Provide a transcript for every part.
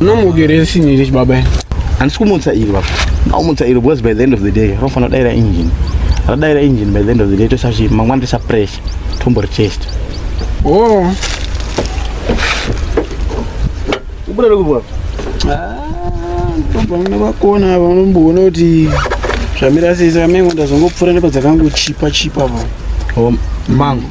Unomukere sini rich baba. Handisi kumutsa iri baba. Ndaumutsa iri because by the end of the day rofanira kudaira engine. Radaira engine by the end of the day toisa zvi mangwana toisa pressure tombori test. Oh. Ubuda lokubwa. Ah, tobva muna vakona ava unomboona kuti zvamira sese vamengo ndazongopfuura nepadzakangochipa chipa pa. Oh, mango.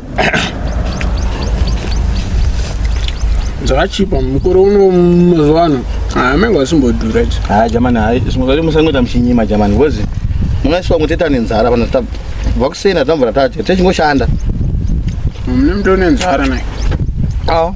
dzakachipa mukore uno mazuva ano amenge asimbodhura idzi ha jamani hai zvimwe zvacho musangoita muchinyima jamani bcause mungaisiwa kuteta nenzara vanhu bva kusena tambura tati techingoshanda mune mutone nzara naye awo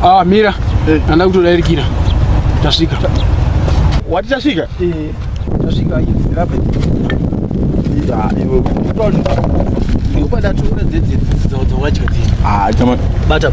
Ah, mira. Hey. Eh. Anda kutodairikira. Tasvika. Wati tasvika? Eh. tasvika idzi rapa ivo ndikupadatura dzedzidzi dzawadya dzii ah, bata